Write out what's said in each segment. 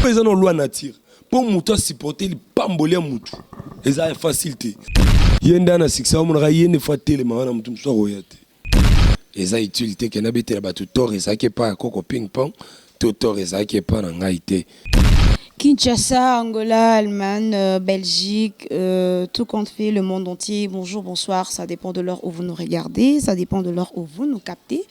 Mpe eza na loi nature mpo moto asupporte lipamboli ya moto eza facile te. Ye nde ana succès amonaka ye nde fo atelema wana moto mosusu akoya te. Eza utile te ke nabetela bato tort ezalaki epai ya koko ping pong to tort ezalaki epai na ngai te. Kinshasa, Angola, Allemagne, Belgique, euh, tout compte fait, le monde entier, bonjour, bonsoir, ça dépend de l'heure où vous nous regardez, ça dépend de l'heure où vous nous captez.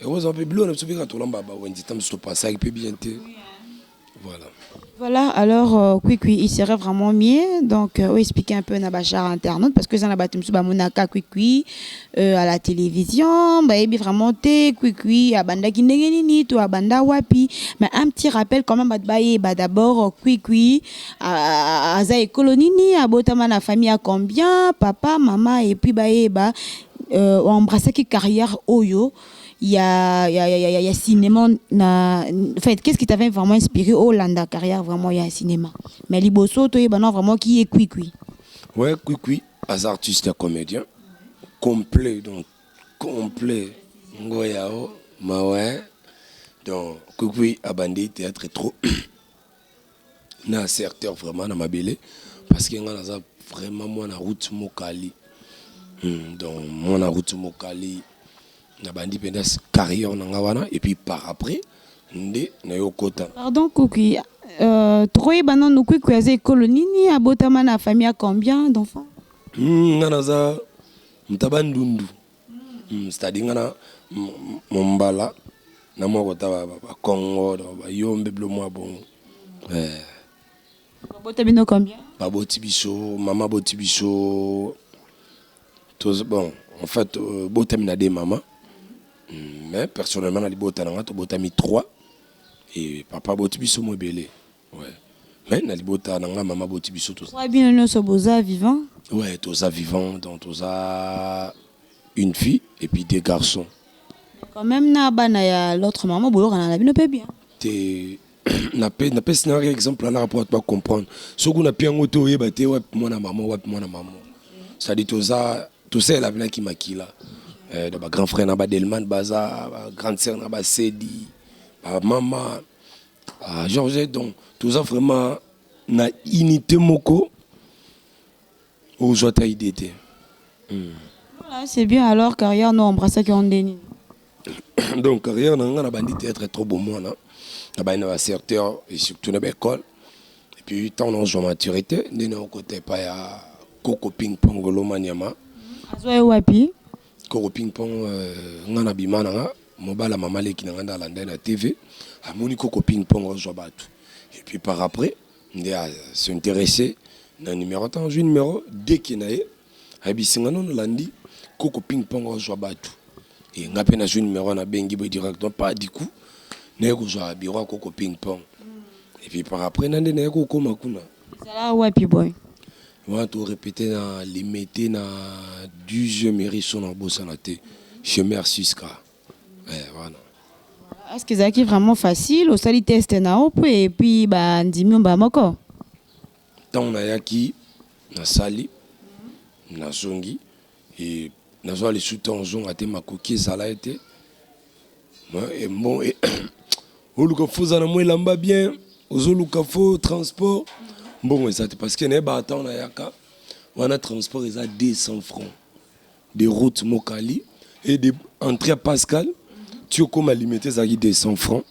ekozala mpe biloko na biso mpe kaka tolamba ba wenze ntango mosusu topasaki mpe bien te voilà Voilà, alors euh, Kwikwi, il serait vraiment mieux donc euh, expliquer un peu na bachar internaute parce que ça na bato mosusu bamonaka Kwikwi euh, à la télévision bayebi vraiment te Kwikwi abandaki ndenge nini to abanda wapi mais un petit rappel quand même bato bayeba d'abord Kwikwi aza ekolo nini abotama na famille ya combien papa mama et puis bayeba o embrassaki carrière oyo ya ya ya ya cinema na en fait qu'est-ce qui t'avait vraiment inspiré au landa carrière vraiment ya cinema mais liboso to yebana vraiment qui est Kwikwi ouais Kwikwi as artiste ya comédien complet donc complet ngoyao mawe donc Kwikwi abandi théâtre trop na certeur vraiment na mabele parce que nga naza vraiment mwana route mokali hmm, donc mwana route mokali nabandi mpenza carrière na nga wana et puis par après nde nayokota pardon kuki euh, tokoyeba nano kuki aza ekolo nini abotama na famille ya combien d'enfants hmm, nga naza mtaba ndundu Hum c'est à dire nga na mombala na mwa kota ba kongo ba yombe bilo mwa bongo eh. babota bino combien baboti biso mama aboti biso toz bon en fait euh, botami na de mama mais personnellement na libota na nga tobotami trois e papa aboti biso mo ebele Ouais. Mais na libota na nga mama boti biso toza. Ouais, bino nioso boza vivant. Ouais, toza vivant donc toza une fille et puis deux garçons. Quand même na bana ya l'autre maman boyokana na bino pe bien. Te napesi na exemple wana rapport to comprendre soki kuna mpe yango te oyeba te wapi mwana mama wapi mwana mama cestadi toza tosalela binaki makila eh, na bagrand frère na badelman baza bagrande sœur na basedi bamama Ah, Georges, donc toza vraiment na unité moko ozwa ta idée te hmm. voilà, c'est bien alors carrière no embrassaki yo nde nini donc carrière na ngai na bandi théâtre trop bomwana na bandi na bacerteur et surtout na baécole et puis ntango naozwa maturité nde naokota epai ya koko ping pong lomaniama azwa ye wapi Koko ping pong nga na bima na nga mobala mama leki na nga nda alanda na TV amoni koko ping pong ozwa batu et puis par après nde a s'intéresser na numéro tant azwi numéro deke na ye ayebisi nga nono landi koko ping pong ozwa batu et nga pe nazwi numéro na bengi boye directement pas du coup naye kozwa bureau koko ping pong et puis par après na nde naye kokoma kuna ezala wapi boye Wana to repeter na limete na 12e eriso na bosana te chez mère Siska. Eh wana. Est-ce que ezalaki vraiment facile osali test na yo mpe epi bandimi yo mbala moko ntango nayaki nasali nazongi Et naza lisu temps zonga te makoki ezala ye te et bon et oluka fo oza na mwa elamba bien ozoluka fo transport mbongo eza te parce que naye ba temps nayaka wana transport eza 200 francs de route mokali et de entrée ya pascal ti okoma limete ezalaki 200 francs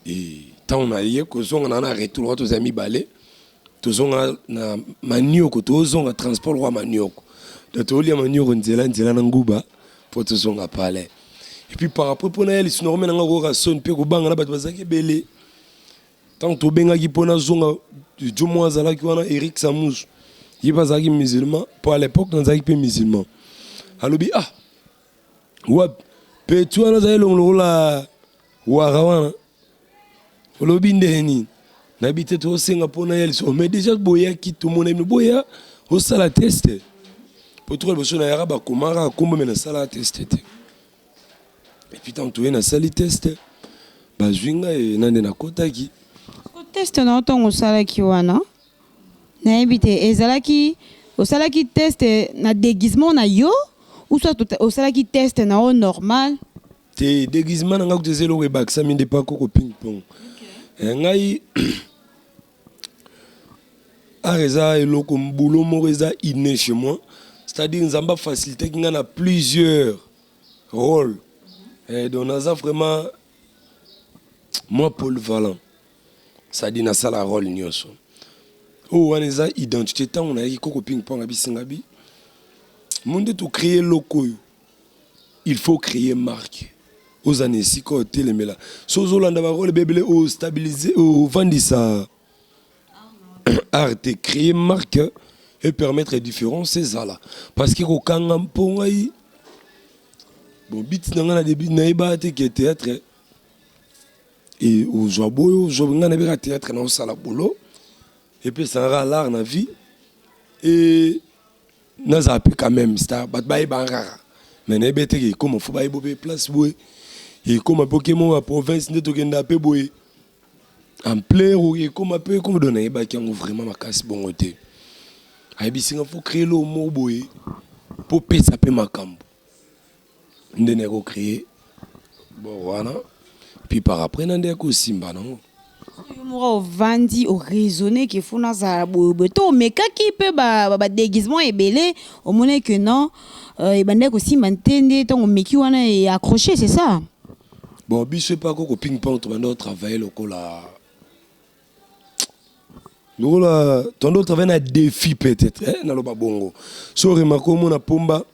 et ntango naye kozonga na na retour wana tozali mibale tozonga na manioko tozonga transport wa manioko na tolia manioko nzela nzela na nguba mpo tozonga palais epuis par après mpo naya lisuna komena nga koyoka soni mpe kobanga na bato bazalaki ebele ntango tobengaki mpo nazonga jo mwa azalaki wana eric samus ye mpe azalaki musulman mpo à l'époque nazalaki mpe musulman alobi ah wapi peti wana azali elongo lokola wara wana olobi ndenge nini nayebi te tozosenga mpona ya lisolo mais déjà boyaki tomonai bino boya osala teste mpo toka liboso na yaka bakoma kaka nkombo me nasalaka teste te epuis ntango toye nasali teste bazwi ngai na nde nakotaki teste na ntango osalaki wana nayebi te ezalaki osalaki teste na déguisement na yo ou soit osalaki teste na yo normal te deguisement na nga kutu eza eloko ebakisami nde pa koko ping pong okay. Eh, ngai art eza eloko boulot moko eza inne chez moi c'est-à-dire nzambe afacilitaki ngai na plusieurs rôle eh, donc naza vraiment mwa polyvalent c'est-à-dire nasala rôle nyonso oyo oh, wana eza identité ntango nayaki koko ping pong abisingabi mo nde tocreye eloko oyo Il faut creer marque oza na esika oyo telemela so ozolanda barole bebele ostabilise ovandisa arte créer marque e permettre différence ezala parce que kokanga mpo ngai bon biti na ngai na debut nayebaka te ke théâtre e ozwa boyo ozwa ngai nabeka théâtre na osala bolo epesaka lare na vie e naza pe quand même star bato bayeba kaka mais nayebi eteke ekoma fo bayebo pe place boye ekoma pe okema ya province nde tokenda pe boye ampleur oyo ekoma pe ekoma do nayebaki yango vraiment makasi bongo te ayebisinga fo créer loo moko boye po pesa pe makambo nde naye ko cree bord wana puis par après na nde ko simba nango yo moko ovandi oraisonne ke fo nazala boyeboye to omekaki mpe badeguisement ebele omonaki ke non euh, ebandaki kosimba te nde ntango omeki wana e accroche c'est ça bon biso epa koko ping pong tobanda otravaille lokola lokola tant d'autres avaient na défi peut-être eh, naloba bongo so remarque omona pomba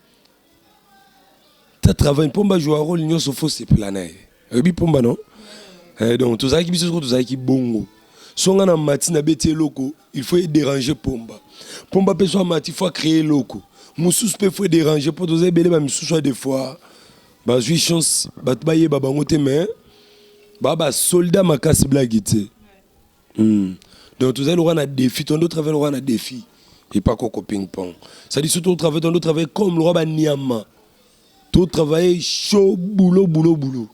ta travail pomba joua rôle nyonso fo sepela na ye oyebi pomba non eh, donc tozalaki biso soko tozalaki bongo so ngai na mati nabeti eloko il faut edérange pomba pomba mpe so amati fo acrée eloko mosusu mpe fo edérange mpo toza ebele bamisusu ya de fois Bazui chance batu bayeba bango te mais ba ba soldat makasi blague te. Hmm. Donc tozali lokola na défi, tondo nde travaille lokola na défi. Et pas koko ping pong. Ça dit surtout travaille tondo travaille comme lokola ba niama. To travaille chaud boulot boulot boulot.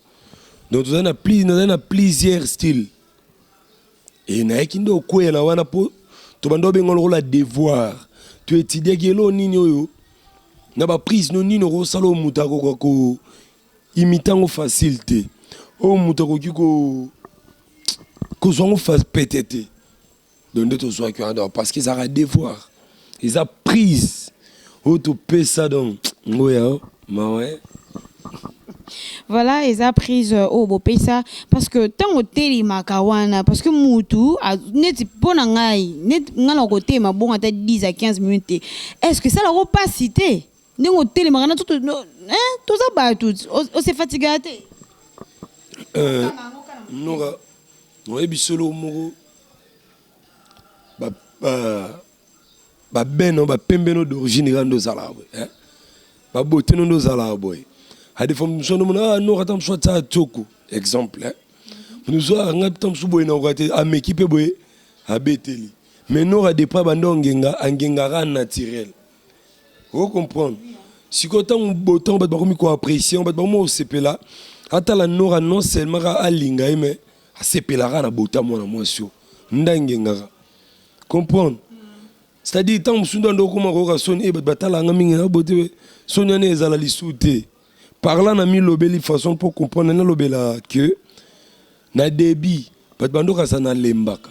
Donc tozali na plus, na plusieurs styles. Et nayaki nde okweya na wana po tobanda obenga lokola devoir to etidiaki elo nini oyo na ba prise no nini okosala oyo moto akoka ko imita yango facile te oyo moto akoki ko kozwa yango pete te donc nde tozwaki wana donc parce que ezalaka devoir eza prise oyo topesa donc ngoya oh, mawa eh. voilà eza prise euh, oyo bopesa parce que ntango otelemaka wana parce que mutu neti mpo na ngai neti ngai na kotelema bongo ata 10 à 15 minutes te est ce que esalaka mpasi te ndenge otelemaka na toza bato ose fatigaka te euh, noka oyebi solo moko ba euh, ba beno ba pembeno d'origine kando ozalaka boye hein ba boteno ndo ozalaka boye adefo mosusu ndo mona ah nokata mosusu atia tsoko exemple hein mosusu anga pita mosusu boye nakoka te ameki mpe boye abeteli mais nora depra banda ongenga angengaka naturel o comprendre sikoyo ntango botango bato bakomi koapprécie bato bakomi kosepela atala nora non seulement kaka alinga ye mais asepelaka na bota mwana mwasi oyo nda engengaka comprendre c'est-à-dire ntango mosusu nda ndo okoma koyoka soni e bato batala yanga mingi na bote soni wana ezala lisu te parla na milobeli façon mpo comprendre nalobela que na debut bato bandokasa nalembaka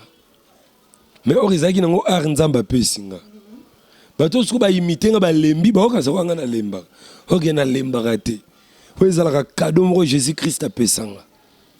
mais or ezalaki nango art nzambe apesi nga bato oyo soki baimite nga balembi baokasa kwa nga nalembaka oke nalembaka te oyo ezalaka kado moko jésus christ apesa nga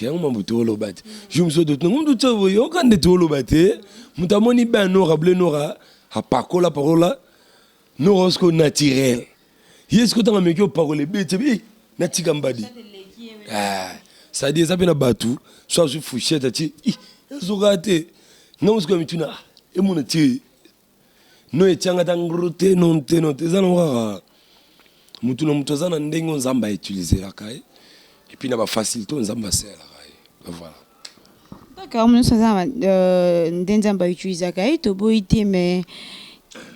yango mambo tooloba te jour mosusu toyoka nde tooloba te moto amoni ben nora ble nora apakola pakola nora osiko naturel ye siko ntango ameki opakola ebeti ebi natika mbadi ah, sadi eza mpe na bato so azwi fushete ati ezokaa te ngai mosiko ya mituna ah, emona tie no etianga ta ngru te non te non te eza nango kaka motu na motu aza na ndenge oyo nzambe autiliselaka ye epuis na bafacilité oyo nzambe asalelaka ye voilà kaka nyonso aza euh, nde nzambe autilisaka ye toboyi te mais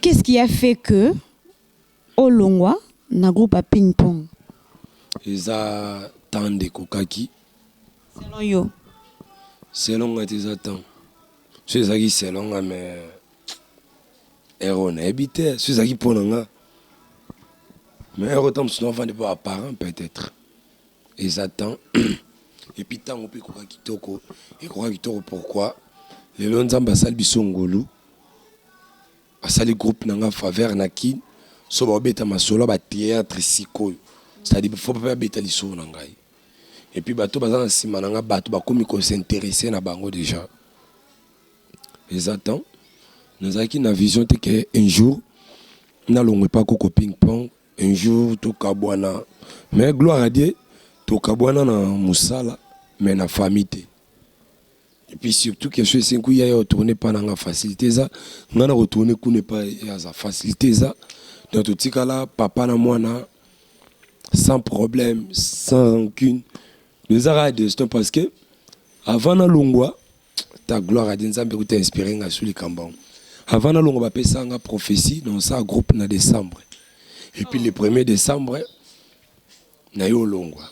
qu'est ce qui a fait que O longwa na groupe ya ping pong. Eza temps nde ekokaki. Selon yo? Selon nga te eza temps. Soki ezalaki selon nga mais heure oyo nayebi te soki ezalaki mpo na nga mais heure oyo ntango mosusu nafandi mpo apparent peut-être eza temps epuis ntango mpe ekoka kitoko ekoka kitoko pourquoi lelo nzambe asali biso ngolu Basali groupe na nga faveur na kin so bao beta masolo ya ba theatre sikoyo c'est à dire il faut pe ba beta lisolo na ngai et puis bato baza na sima na nga bato bakomi ko s'interesser na bango dejà eza temps nazalaki na vision te que un jour nalongwe pa koko ping pong un jour tokabwana mais gloire à dieu tokabwana na mosala mais na famille te Et puis surtout que je suis un yaya retourner pas nanga facilité ça. Nga na retourner coup n'est pas ya ça facilité ça. Dans tout cas là, papa na moi na sans problème, sans rancune. Nous avons des destins parce que avant na longwa ta gloire à Nzambe ku t'inspirer nga sous les kambang. Avant na longwa ba pesa nga prophétie dans sa groupe na décembre. Et puis le 1er décembre naye olongwa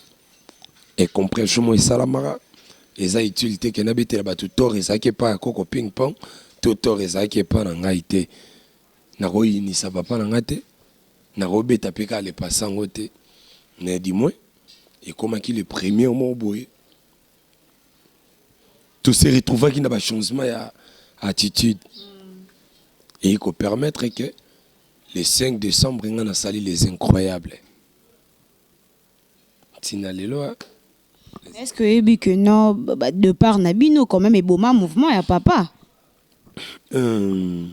incomprehension moko esalamaka eza utile te ke nabetela bato tort ezalaki epai ya koko ping pong to tort ezalaki epai na ngai te nakoyinisa papa na ngai te nakobeta mpe kaka lepasa yango te mais du moins ekomaki le premier moko boye to se retrouvaki na bachangement ya attitude eye kopermettre ke le 5 décembre ngai nasali les incroyables Tina lelo a. Mais est-ce que oyebi que non ba depart na bino quand même eboma mouvement ya papa? Hum.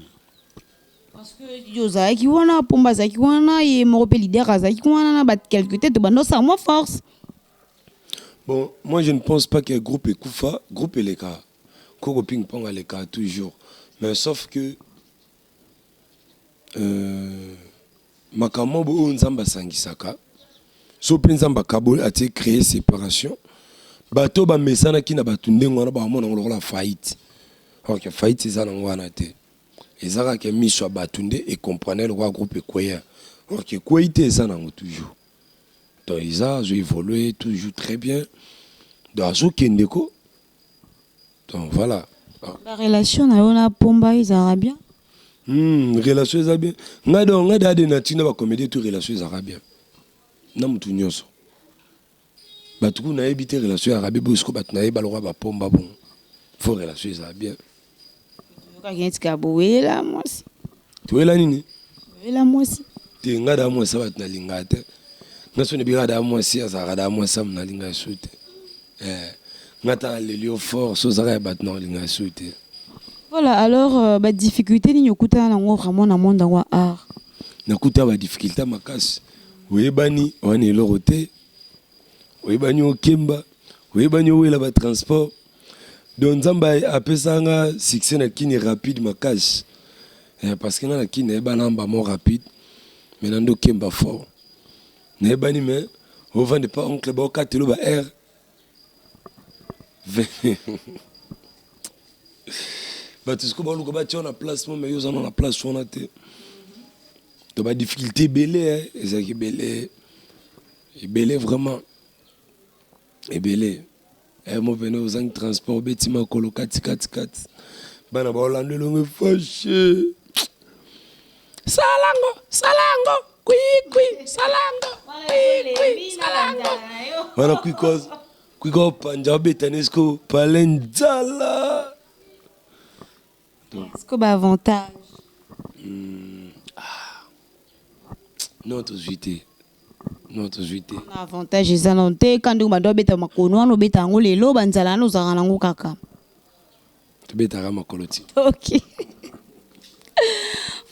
Parce que yo ozalaki wana, Pomba azalaki wana, ye moko pe leader azalaki wana na ba quelques tete banda osala mwa force. Bon, moi je ne pense pas que groupe ekufa, groupe eleka. Koko Ping Pong aleka toujours. Mais sauf que Makambo mob oyo nzambe asangisaka so mpe nzambe akaboli atie cree separation bato oyo bamesanaki na bato ndenge wana baomona ngo lokola faillite or que faillite eza nango wana te eza kaka ke miso ya bato nde e comprendre lokola groupe ekweya or que ekweyi te eza nango toujours donc eza azo evolue toujours très bien donc azo kende ko. donc voilà ba relation na yo na pomba ezalaka bien hmm, relation eza bien ngai donc ngai dade na ntina bacomédie to relation ezalaka bien na motu nyonso bato kuna nayebi te relation ya rabi boye siko bato naye balokola bapomba bongo fo relation ezala bien Toyokaki neti kaka bowela mwasi. Toyela nini? Bowela mwasi. Te nga da mwasi bato nalingaka te. Nga so nebi nga da mwasi azalaka da mwasi amu nalingaka su te. Eh, nga ta naleli yo fort so ozalaka ya bato nakolingaka su te. Voilà, alors euh, ba difficulté nini okutana nango vraiment na monde yango ya art? Nakuta ba difficulté makasi. Oyebani wana eloko te. Oyebani okemba, oyebani owela ba transport. donc nzambe apesa nga succès na kini rapide makasi eh, parce que nga na kini nayeba namba mo rapide me na ndo kemba fort nayebani me ovanda epa oncle baokatelo ba air bato siko baluka batya na place mo me yo ozana na place wana te to badifficulté ebele ezalaki ebele ebele vraiment ebele eh mon pene ozangi transport obeti makolo kati kati kati bana baolanda elongo fashe salango salango kwikwi salango kwikwi salango wana kwiko kwiko panja obeta nesko pale nzala Est-ce que ba avantage? Hum, ah. Non, tozwi te. Non, tozwi te. Na avantage eza na te ka ndenge bando abeta makolo wana obeta yango lelo ba nzala wana ozalaka na yango kaka. Tobetaka makolo ti. Ok.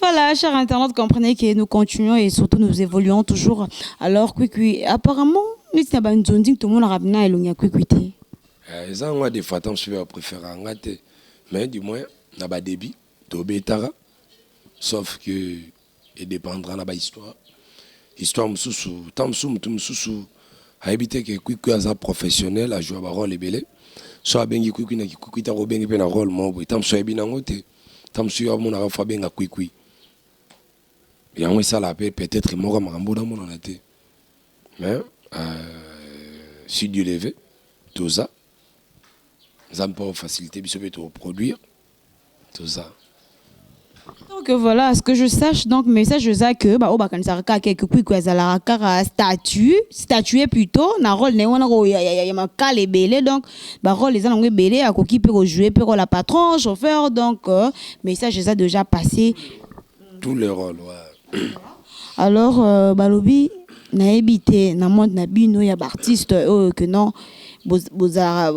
Voilà, chers internautes, comprenez que nous continuons et surtout nous évoluons toujours. Alors, Kwikwi, apparemment, nous sommes dans une zone tout le monde a ramené à Elonia Kwikwi. te. Eh, eza yango ya defata mosusu ya préfère anga te mais du moins na ba debut to betaka sauf que e dependra na ba histoire histoire mususu temps mususu mutu mususu ayebi te ke kwikwi aza professionnel a joua ba role ebele so abengi kwikwi na kikwikwi te akobengi mpe na role moko boye temps mususu ayebi nango te temps mususu yo amonaka fo abenga kwikwi yango esalaka mpe peut-être moko ya makambo oyo namonana te mais euh, si dieu le veut toza nzambe mpo facilité biso mpe toproduire toza donc voilà à ce que je sache donc message eza que baoyo bakanisaka kaka ke kikwiko azalaka kaka statue statue plutôt na role na ye wana ya makala ebele donc barole eza nango ebele akoki mpe kojoue mpe role ya patron chauffeur donc euh, message eza déjà passé tout le role alors euh, balobi nayebi te na monde na bino ya baartiste oyo oh, que non bozalaka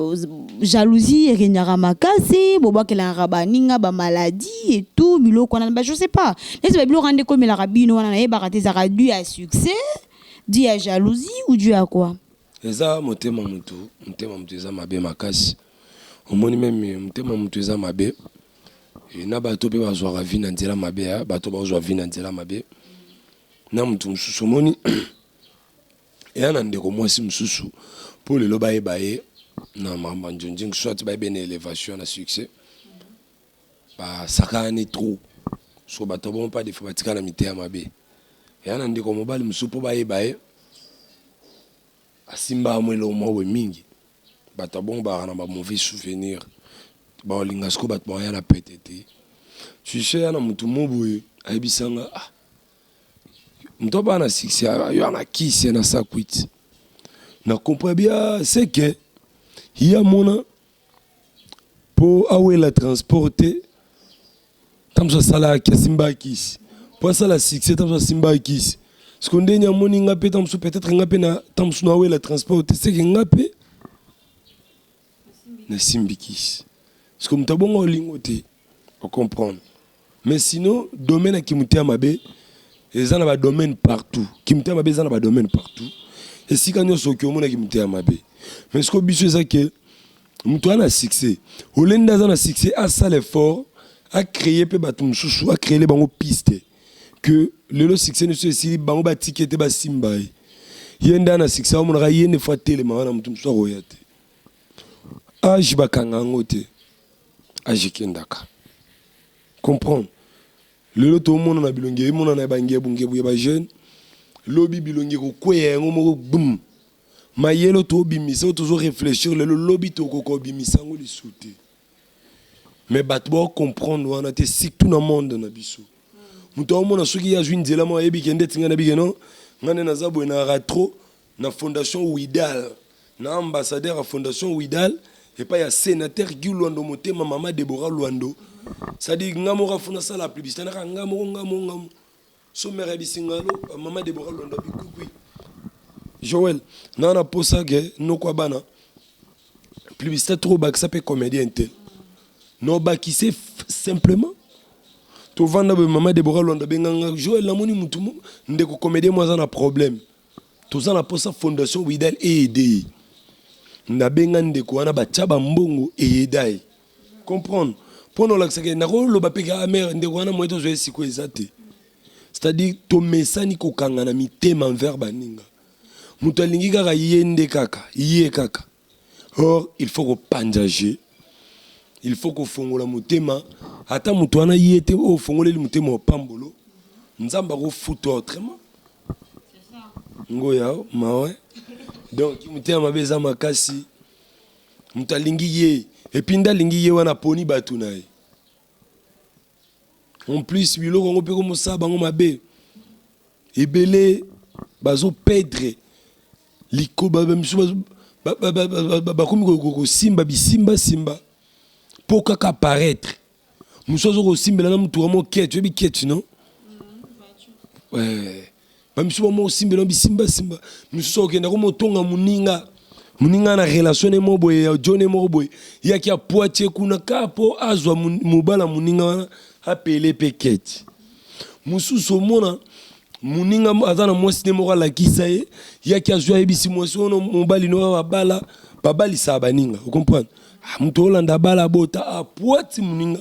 jalousie eregnaka makasi bobwakelaka baninga bamaladie et tout biloko wana ba je sais pas neti babiloko wana nde ekomelaka bino wana nayebaka te ezalaka du ya succès du ya jalousie ou du ya quoi Eza motema mutu motema mutu eza mabe makasi omoni meme motema mutu eza mabe na bato mpe bazwaka vi na nzela mabe ya bato bazwa vi na nzela mabe na motu mosusu omoni eya na ndeko mwasi mosusu mpo lelo bayeba ye na mambo ya njunjing soit bayebe na elevation na succès Ba sakanani trop soki bato ya bongo pas de fois ba tika na miteya mabe. Yaya na ndeko mobali mosusu po ba yeba ye a simba ya mwa eloko moko boye mingi. Bato ya bongo bazalaka na ba mauvais souvenir. Ba ko linga sikoyo bato bako ya na pete te. Tu sais yaya na moto moko boye a yebisa nga ah moto abala na succès a yo a na kisi ye na sa kwiti. Na comprend bien ce que ye a mona po awela transport te ata mususu asalaka kisi asimbaka kisi po asala succès ata mususu asimbaka kisi sikoyo ndenge nini amoni nga pe ata mususu peut etre nga pe ata mususu nawela transport te seke nga pe nasimbi kisi sikoyo mutu abongo olingo te O comprendre. Mais sinon domaine ya kimotema mabe eza na ba domaine partout. Kimotema mabe eza na ba domaine partout. Esika nyonso oki omona kimotema mabe. Mais siko biso eza ke moto ana succès. Olende aza na succès asala effort a créer pe bato mosusu a créer bango piste que lelo succès ne se esili bango ba tiki ete ba simba ye. Ye nda na succès amonaka ye ne fois telema wana moto mosusu akoya te. Age bakanga yango te. ajikendaka comprendre lelo tomona na bilongi emonana ya bangebungebu ya bajeune lobi bilongi ekokweya yango moko bum mayele oyo tobimisa oyo tozo réfléchir lelo lobi tokoka obimisa yango lisusu te mais bato bao comprendre wana te surtout na monde na biso moto aomona soki ye azwi nzela moko ayebi ke ndeti ngai nayebi ke non ngai nde naza boye na ratro na Fondation Widal, na ambassadeur ya Fondation Widal epai ya Senateur Guy Luando motema mama Deborah Luando sadi nga moko afu nasala publicité naka nga moko nga moko nga moko so mère ya bisingalo mama Deborah Luando abikukui Joël na na posa ke noko bana publicité trop bakisa pe comédien te no bakise simplement tovanda boye mama Deborah Luando abenganga Joël namoni mutu ndeko comédien mo aza na problème toza na posa fondation widal eede ye nabenga ndeko wana batya bambongo eyeda ye comprendre mpo na olakisaka ye nakoloba mpe ka amere ah, ndeko wana moye tozwa ye sikoyo eza te c'est-à-dire tomesani kokangana mitema envers baninga moto alingi kaka ye nde kaka ye kaka Or il faut ko panza jeu. Il faut ko fongola motema ata moto wana ye te o fongoleli motema opambolo. Nzambe ako futa autrement. Ngoya mawe. Donc motema mabe eza makasi. Moto alingi ye et puis nda alingi ye wana poni batu na ye. En plus biloko yango mpe komosala bango mabe ebele bazo pedre likobamisu bakomi kosimba bisimbasimba mpo kaka paraitre mosu azo kosimbela na motuka mo keti oyebi keti no ba misusu ba moko simbela bisimba simba misusu okenda ko motonga muninga muninga na relation ne mo boye ya jone moko boye yaki ya poatie kuna ka po azwa mobala muninga wana apele pe keti mususu omona muninga aza na mwasi ne moko alakisa ye yaki azwi ayebisi mwasi wana mobali no babala babalisaka baninga okomprendre ah, moto olanda abala abota apuati ah, moninga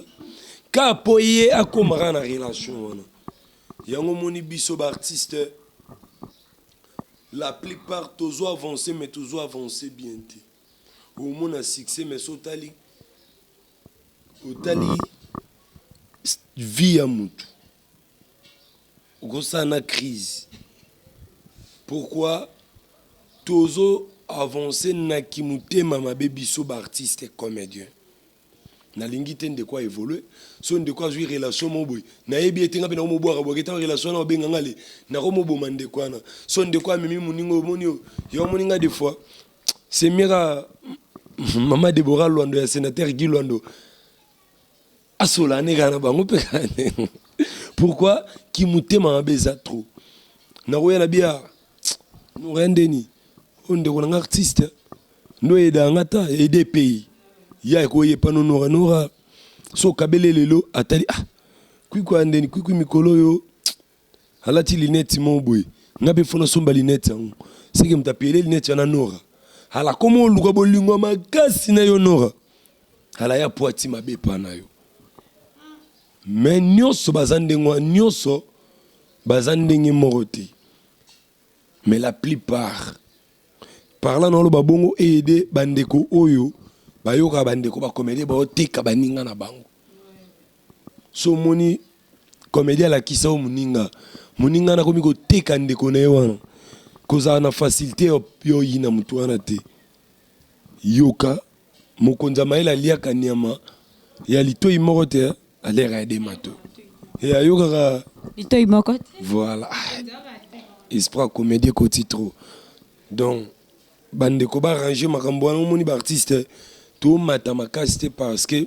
ka po ye akomaka na relation wana Yango omoni biso ba artiste la plus part tozo avance mais tozo avance bien te omona succès mais so otali otali vie ya mutu okosala na crise pourquoi tozo avance na kimutema mabe biso ba artiste comedien Nalingi te ndeko a evolue soki ndeko azui relation moko boye nayebi ye te nga pe nako mobwaka bwaka te relation wana babenga nga le nako moboma ndeko wana soki ndeko amemi moninga oyo omoni oyo yo omoni nga de fois c'est mieux ka mama Deborah Luando ya senateur Guy Luando asolana kaka na bango pe pourquoi kimotema mabe eza trop nakoya na bia Morin Denis, oyo ndeko na nga artiste, nde oyedaka nga ata aide pays ya ekoye pano nora nora so kabele lelo atali ah kwikwi ya ndeni kwikwi mikolo oyo alati linete moko boye nga mpe fona somba linete yango seke moto apele linete wana nora ala koma oluka bolingo ya makasi na yo nora ala ya po ati mabe epa na yo Mais nioso baza ndenge wana nioso baza ndenge moko te mais la plupart parla na oloba bongo eyede bandeko oyo bayokaka bandeko bakomedie baoteka baninga na bango so omoni komedie alakisa o moninga moninga na komi koteka ndeko na ye wana kozala na facilte ya oyina motu wana te Yoka mokonzi ya mayele aliaka nyama ya litoyi moko te hein? Aliaka ya de mato. Et ayokaka Litoi moko te. voilà. Esprit ya comédie ekoti trop. Donc bandeko ba arranger makambo wana omoni ba artistes tomata makasi te parce que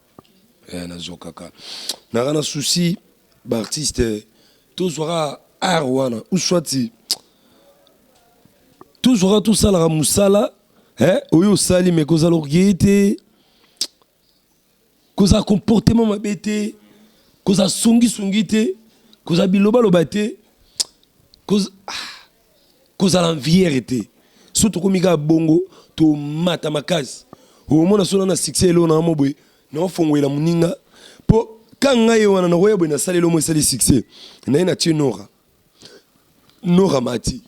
eh, nazokaka naka na souci baartiste tozwaka art wana uswati tozwaka tosalaka mosala eh, oyo osali me kozala orgueille te kozala comportement mabe te kozala songisongi te kozala bilobaloba te koz... ah, kozala nviere te so tokomi kaka bongo tomata makasi omona sona na succès eloo na mo boye naofongwela moninga mpo ka ngai wana nakoya boye nasali elomo esali succès naye na tie nora nora mati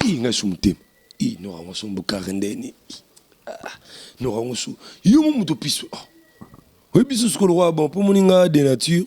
i ngai su motema i nora yango so mbokare ndeni ah, nora yango su yo mo moto piso oh. oyebi susu kolokoa bon mpo moninga de nature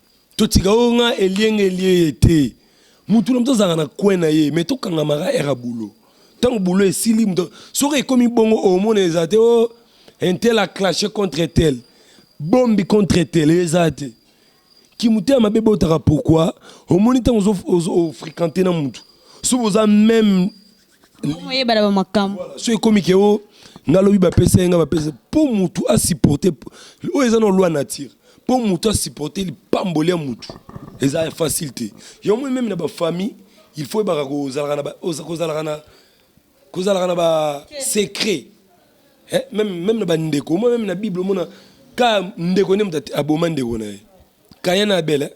totika oyo nga elienge elieye te mutu na moto azalaka na coin na ye mais tokangamaka era bulo ntango bulo esili moto soki ekomi bongo omona eza te o oh, intel a clashe contre tel bombi contre tel eza te kimotema mabe botaka pourkui omoni ntango ofrequente na motu soki boza meme so ekomi ke o nga lobi bapesa ye nga bapesa mpo motu asupporte oyo eza na loi nature mpo motu asupporte lipamboli ya motu eza facile te yo moi meme na bafamille il faut ebaka kozalaka na kozalaka na basecret meme na bandeko omoi meme na bible omona ka ndeko nde moto aboma ndeko na ye kaya na abele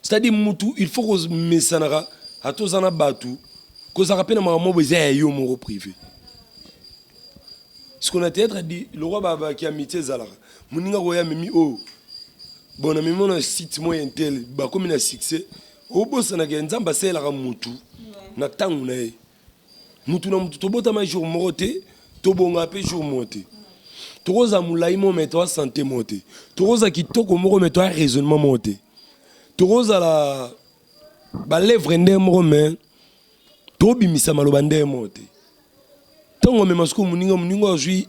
C'est à dire mutu il faut komesanaka ata oza na bato kozalaka mpe na makambo moko eza ya yo moko privé siko na théâtre di lokwa babaki ya mitie ezalaka moninga koya mimi oyo oh, bon na mimi ona site moko ya intel bakomi na succès obosanaka ya nzambe asalelaka mutu na ntango na ye mutu na mutu tobotama jour moko te tobonga mpe jour moko te tokozala molai moko me toa sante moko te tokozala kitoko moko me toa raisonnement moko te tokozala balevre ndenge moko me tobimisa maloba ndenge moko te ntango amema soko moninga moninga azwi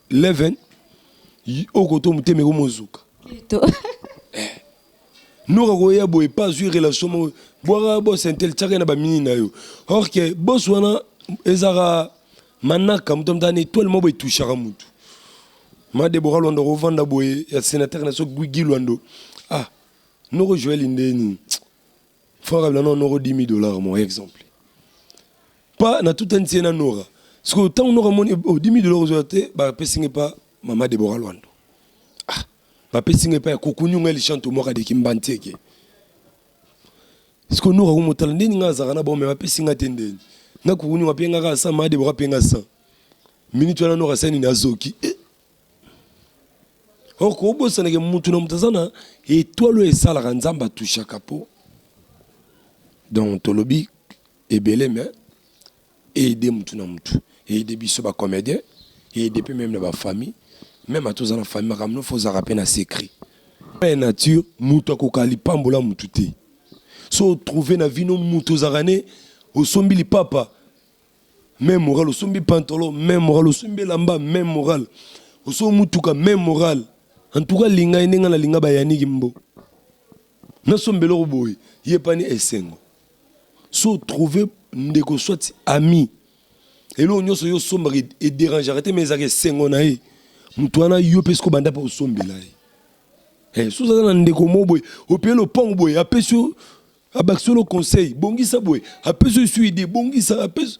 leven okoto motema ekomozuka Nora koya boye pa azwi relation moko bwaka boss intel tiaka ye na bamini na yo or que boss wana ezalaka manaka moto amutaka na etoile moko etouchaka motu ma debora lwando kovanda boye ya sénateur na so guigi lwando ah noko joel nde nini franc kabila no noko 10 000 dollars mon exemple pa na tutanisi ye na nora sikoyo ntango noko amoni odimi lelo kozwa te bapesi ngai mpa mama debora lwando Bapesi nga epai ya kukunyu nga lishanto mwaka de kimbanteke siko noka ko motala ndeni nga azaka na bome bapesi nga te ndeni nga kukunyu nga penga ka sa made boka penga sa minute wana noka sani na zoki eh. or kobosanake mutu na mutu aza na etoile oyo esalaka nzambe atushaka po donc tolobi ebele mais Aider mutu na mutu aider biso ba comedien aider pe meme na ba famille meme ata oza na famille makambo nofo ozalaka pe na secret loi ya nature mutu akoka lipambola mutu te so otrouve na vino mutu ozalaka ne osombi lipapa meme moral osombi pantolo meme moral osombi elamba meme moral osombi mutuka meme moral en tout cas linga ye ndenge nalinga bayaniki mbo na somba eloko boye yepani esengo so trouve ndeko soit ami eloko nyonso yo osombaka ederangeaka te ma ezalaka esengo na ye moto wana yo mpe soki obanda mpe osombela ye eh, soki oza na ndeko moko boye opeye lopango boye apesi yo abakisi yo conseil bongisa boye apesi yo esu ide bongisa apesi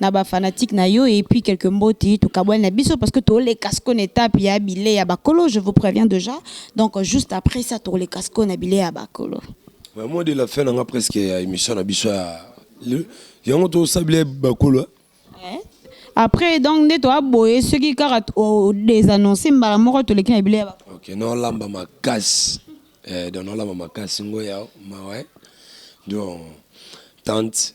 na ba fanatique na yo et puis quelques mboti tokabwani na biso parce que toleka siko na etape ya bile ya bakolo je vous préviens déjà donc juste après ça toleka siko na bile ya bakolo ba mot de la fin nanga presque ya émission na biso ya yango tosala bile bakolo hein? eh? après donc nde toaboye soki kaka odesannonce mbala moko toleki na bile ya bakolo ok nolamba makasi eh, donc nolamba makasi ngo ya mawa donc tante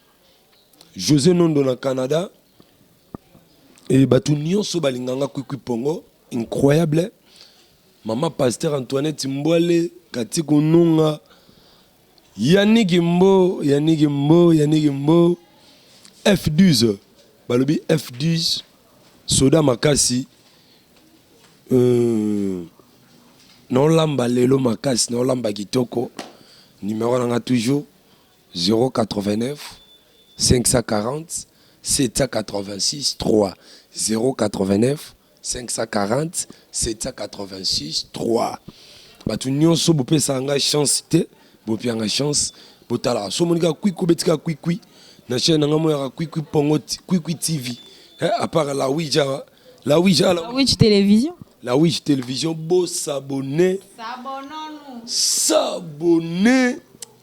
Jose Nondo na Canada et bato nyonso balinga nga kwikwi pongo incroyable mama pasteur Antoinette Mbwale Kati Kununga Yannick Mbo Yannick Mbo Yannick Mbo F12 balobi F12 soda makasi euh, naolamba lelo makasi naolamba kitoko numero na nga toujours 089540786308954078630 batu nionso bopesaka ngai chance te bopia ngai chance botalaka so omoni kaka kwikwi obeti kaka kwikwi na chaîne na ngai omonaka kwikwi pongo kwikwi tv eh, apart la ouija hein? la ouija ah, la ouija télévision la ouija télévision bo s'abonner s'abonner s'abonner